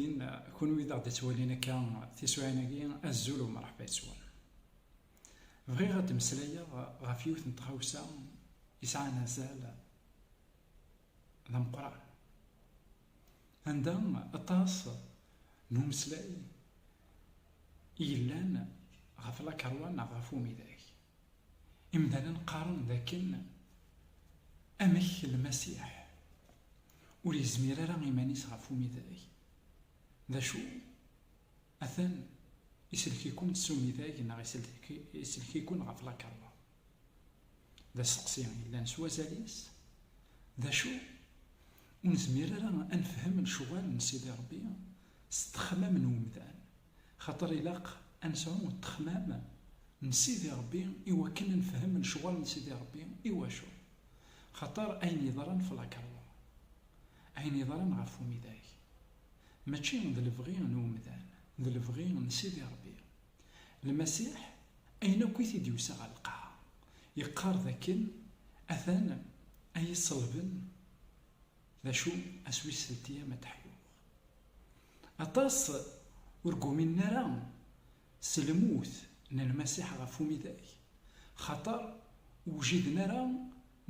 Din, kunwi d aɣ-d-ittwalin akka tisuɛin-agi, azul u mṛeḥba yes-wen. Bɣiɣ ad d-mmeslayeɣ ɣef yiwet n tɣawsa yesɛan azal d ameqqran, anda aṭas n umeslay i yellan ɣef lakeṛwa neɣ ɣef umidag. Imdanen qqaren d akken amek Lmasiḥ ur yezmir ara iman-is ɣef umidag. D acu? Atan isellek-ikent s umidag neɣ isellek-iken ɣef lakeṛṛa? D asteqsi yellan s wazal-is. D acu? Ur nezmir ara ad nefhem lecɣal n Sidi Ṛebbi s ttexmam n umdan. Xaṭer ilaq a nesɛu ṭṭexmam n Sidi Ṛebbi i wakken a nefhem lecɣal n Sidi Ṛebbi. Iwacu? Xaṭer ayen yeḍran f lakerḍa, ayen yeḍran ɣef umidag, mačči d lebɣi n umdan, d lebɣi n Sidi Ṛebbi. Lmasiḥ, ayen akk i t-id-yusa ɣer lqaɛa, yeqqar d akken atan a yi-ṣelben D acu a s-wisselti ama tteḥyuɣ? Aṭas ur guminen ara s lmut n Lmasiḥ ɣef umidag, xaṭer ur wjiden ara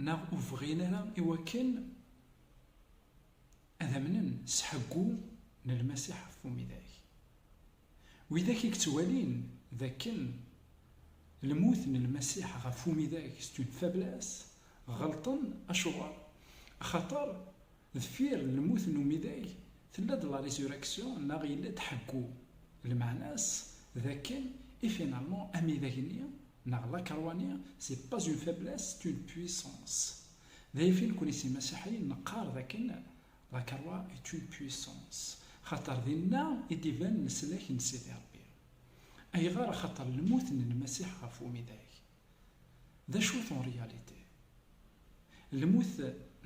neɣ ur bɣin ara i wakken ad amnen s ḥeggu n Lmasiḥ ɣef umidag. Widak i yettwalin d akken lmut n Lmasiḥ ɣef umidag c'est une faiblesse, ɣelṭen. Acuɣer? Axaṭer deffir n lmut n umidag tella-d la résurrection neɣ yella-d ḥeggu. Lmeɛna-s d akken et finalement amidag-nni neɣ la croix-nni c'est pas une faiblesse c'est une puissance. Dayafin nekkni s Imasiḥiyen neqqar d akken La Croix est une puissance. Xaṭer dinna i d-iban leslak n Sidi Ṛebbi. Ayɣer? Axaṭer lmut n Lmasiḥ ɣef umidag, d acu-t en réalité? Lmut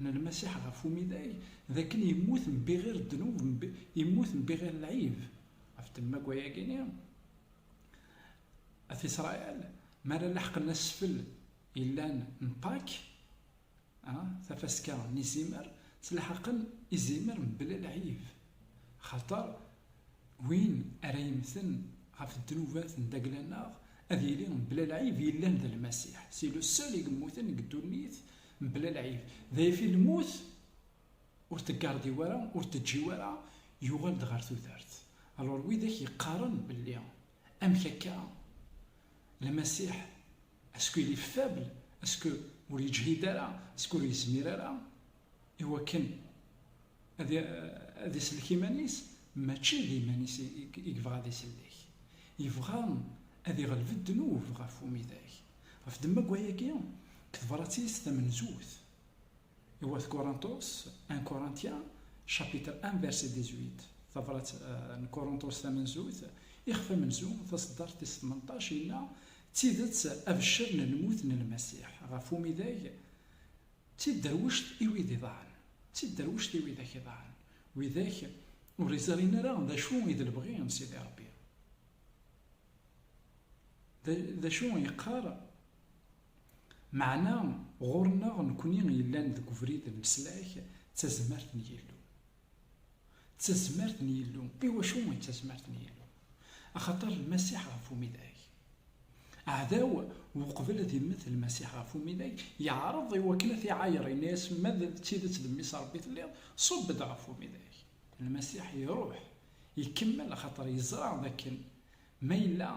n Lmasiḥ ɣef umidag, d akken yemmut mbiɣir ddnub, yemmut mbiɣir lɛib. Ɣef ddemma n wayagi-nni, At Isṛail mi ara laḥqen asfel yellan n Pâques, A, tafaska n izimer ttlḥaqen izimer mebla lɛib, axaṭer win ara yemmten ɣef ddnubat n Dagla-nneɣ ad yili mebla lɛib yellan d Lmasiḥ, c'est le seul i yemmuten deg ddunit mebla lɛib, dayfi lmut ur teggardiw ara, ur teǧǧiw ara, yuɣal-d ɣer tudert. Alors widak yeqqaren belli amek akka Lmasiḥ, Asku il est faible, asku ur yeǧhid ara, asku ur yezmir ara i wakken ad isellek iman-is, mačči d iman-is i yebɣa ad isellek, yebɣa ad iɣleb ddnub ɣef umidag. Ɣef ddemma n wayagi, deg tebṛat-is tamenzut. I wat Korinṭus, 1 Corinthiens, chapitre 1 verset 18, tabrat n Korinṭus tamenzut, ixef amenzu, taseddart tis tmenṭac, yenna, D tidet, abeccer n lmut n Lmasiḥ ɣef umidag, d tidderwect i wid iḍaɛen, d tidderwect i widak iḍaɛen, widak ur iẓrin ara d acu i d lebɣi n Sidi Ṛebbi. D acu yeqqar Meɛna ɣur-neɣ nekni yellan deg ubrid n leslak d tazmert n Yillu. D tazmert n Yillu. I wacu i d tazmert n Yillu? Axaṭer Lmasiḥ ɣef umidag. Aɛdaw, uqbel ad immet Lmasiḥ ɣef umidag, yeɛreḍ i wakken ad t-iɛayer, yenna-yas, Ma d tidet d Mmi-s n Rebbi telliḍ, ṣubb-d ɣef umidag. Lmasiḥ iruḥ, ikemmel axaṭer yeẓra d akken Ma yella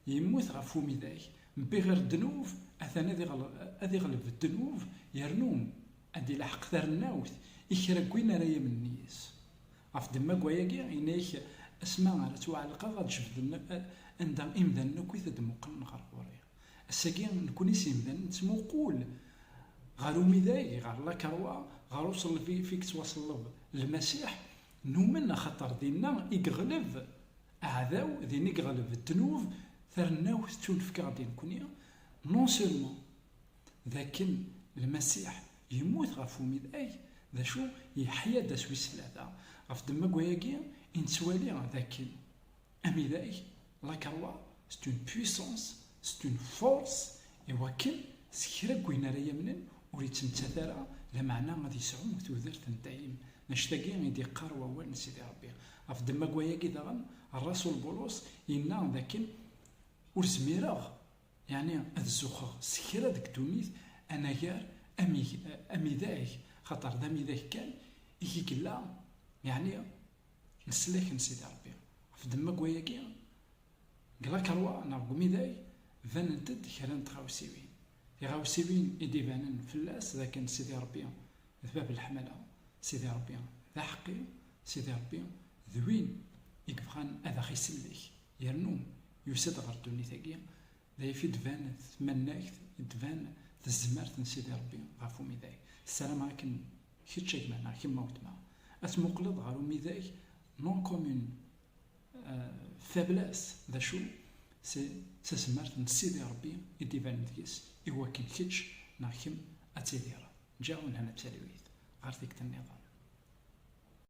yemmut ɣef umidag, bɣir ddnub, atan ad iɣleb ddnub, yernu ad d-ilaḥeq tarennawt i kra n win ara yamnen yis-s. Ɣef ddemma n wayagi, yenna-ak, Asma ara ttwaɛelqeɣ, ad d-jebden anda imdanen akk i t-id-muqlen ɣer ɣur-i. Ass-agi, nekni s yimdanen nettmuqul ɣer umidag, ɣer lakeṛwa, ɣer uṣelleb-if i yettwaṣelleb Lmasiḥ, Numen axaṭer dinna i yeɣleb aɛdaw, din i yeɣleb ddnub, tarennawt ttunefk-aɣ-d i nekkni, non seulement d akken Lmasiḥ yemmut ɣef umidag, d acu, yeḥya-d ass wis tlata. Ɣef ddemma n wayagi i nettwali d akken amidag La Carwa, c'est une puissance, c'est une force, iwakken s kra n wayen ara yamnen ur yettmettat ara, lameɛna ad yesɛu tudert n dayem. Mačči dagi i d-yeqqar wawal n Sidi Rebbi. Ɣef ddemma n wayagi daɣen, rrasul Bulus yenna d akken, Ur zmireɣ yeɛni ad zuxxeɣ s kra deg ddunit anagar amidag, axaṭer d amidag kan i k-illa, yeɛni Leslak n Sidi Ṛebbi. Ɣef ddemma n wayagi, deg lakeṛwa neɣ deg umidag banent-d kra n tɣawsiwin. Tiɣawsiwin i d-ibanen fell-as d akken Sidi Ṛebbi d bab n leḥmala, Sidi Ṛebbi d aḥeqqi, Sidi Ṛebbi d win i yebɣan ad aɣ-isellek yernu yusa-d ɣer ddunit-agi, d ay fi d-tban tmannagt, i d-tban tezmert n Sidi Ṛebbi ɣef umidag. Ssarameɣ akken Kečč a gma neɣ kemm a weltma, ad tmuqleḍ ɣer umidag non commun faiblesse, d acu? C'est d tazmert n Sidi Rebbi i d-ibanen deg-s i wakken kečč neɣ kemm ad tidireḍ. Ǧǧiɣ unhan a talwit ɣer tikti nniḍen.